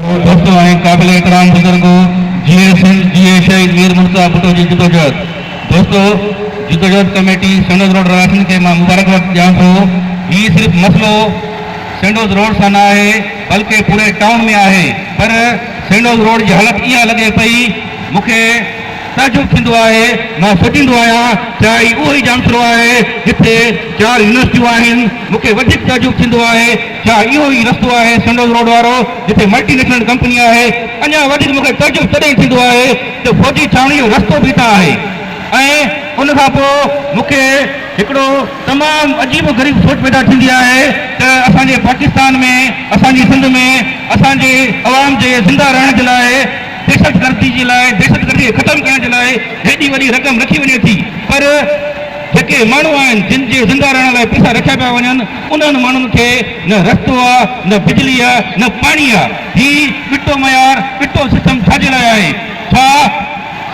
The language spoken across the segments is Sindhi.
ڀٽو ۽ قابل احترام بزرگ هو، جيئي سنڌ، جيئي شهيد مير منتظر ڀٽو جي جدوجهد دوستو، جدوجهد ڪميٽي سينڊوز روڊ رهواسين کي مان مبارڪباد ڏيان ٿو، هي صرف مسئلو سينڊوز روڊ سان نه آهي بلڪه پوري ٽائون ۾ آهي پر سينڊوز روڊ جي حالت اها لڳي پئي مون کي تعجب ٿيندو آهي مان سوچيندو آهيان ڇا هي اهو ئي جامشورو آهي جتي چار يونيورسٽيون آهن مون کي وڌيڪ تعجب ٿيندو آهي ڇا اهو ئي رستو آهي سنڊوز روڊ وارو جتي ملٽي نيشنل ڪمپني آهي؟ اڃا وڌيڪ مون کي تعجب تڏهن ٿيندو آهي جو فوجي ڇانوڻي جو رستو به هتان آهي ۽ ان کان پوء مون کي هڪڙو تمام عجيب و غريب سوچ پيدا ٿيندي آهي ته اسان جي پاڪستان ۾ اسان جي سنڌ ۾ اسان جي عوام جي زنده رهڻ جي لاء دهشتگردي جي لاء دهشتگردي کي ختم ڪرڻ جي لاء هيڏي وڏي رقم رکي وڃي ٿي پر جيڪي ماڻهو آهن جن جي زنده رهڻ لاء پيسا رکيا پيا وڃن انهن ماڻهن کي نه رستو آ نه بجلي آ نه پاڻي آ هي ٻٽو معيار ٻٽو سسٽم ڇا جي لاء آهي ڇا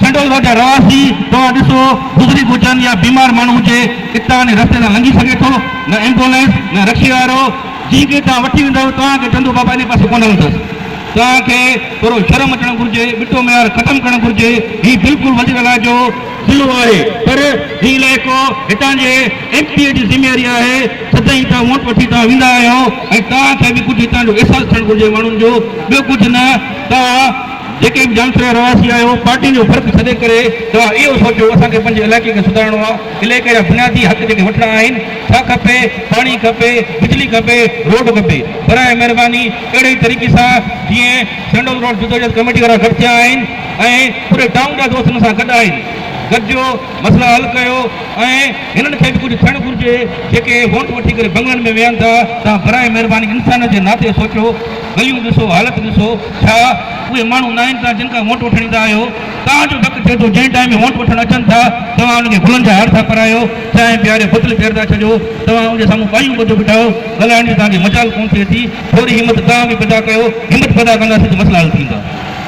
سنڊولرو جا رهواسي توهان ڏسو بزرگ هجن يا بيمار ماڻهو هجي اتان انهي رستي تان لنگهي سگهي ٿو نه ايمبولينس نه رڪشي وارو جنهن کي توهان وٺي ويندؤ توهان کي چوندو بابا انهي پاسي ڪونه هلندس توهان کي ٿورو شرم اچڻ گهرجي ٻٽو معيار ختم ڪرڻ گهرجي هي بلڪل وزير الاجو ضلعو آهي پر هي علائقو هتان جي ايم پي اي جي ذميواري آهي سدائين توهان ووٽ وٺي توهان ويندا آهيو ۽ توهان کي به ڪجهه هتان جو احساس ٿيڻ گهرجي ماڻهن جو ٻيو ڪجهه نه توهان جيڪي به جانسري جا رهواسي آهيو پارٽين جو فرق ڇڏي ڪري توهان اهو سوچو اسان کي پنهنجي علائقي کي سڌارڻو آهي علائقي جا بنيادي حق جيڪي وٺڻا آهن ڇا کپي پاڻي کپي بجلي کپي روڊ کپي براهه مهرباني اهڙي ئي طريقي سان جيئن سينڊول روڊ جدوجهد ڪميٽي وارا گڏ ٿيا آهن. ۽ پوري ٽائون جا دوستن سان گڏ آئين، گڏجيو، مسئلا حل ڪيو ۽ هنن کي به ڪجهه ٿيڻ گهرجي، جيڪي ووٽ وٺي ڪري بنگلن ۾ ويهن ٿا، توهان براء مهرباني انسانيت جي ناتي سوچيو، گليون ڏسو، حالت ڏسو، ڇا اهي ماڻهو ناهن توهان جن کان ووٽ وٺڻ ايندا آهيو، توهان جو ڊڪ ٿئي ٿو جنهن ٽائيم ووٽ وٺڻ اچن ٿا توهان انهن کي گلن جا هار ٿا پرايو، چانهه پياري بوتل ڪير ٿا ڇڏيو، توهان ان جي سامهون ٻانهيون ٻڌو بيٺاهيو، ڳالهائڻ جي توهان کي مجال ڪونه ٿئي ٿي، ٿوري همت توهان به پيدا ڪيو، همت پيدا ڪنداسين ته مسئلا حل ٿيندا.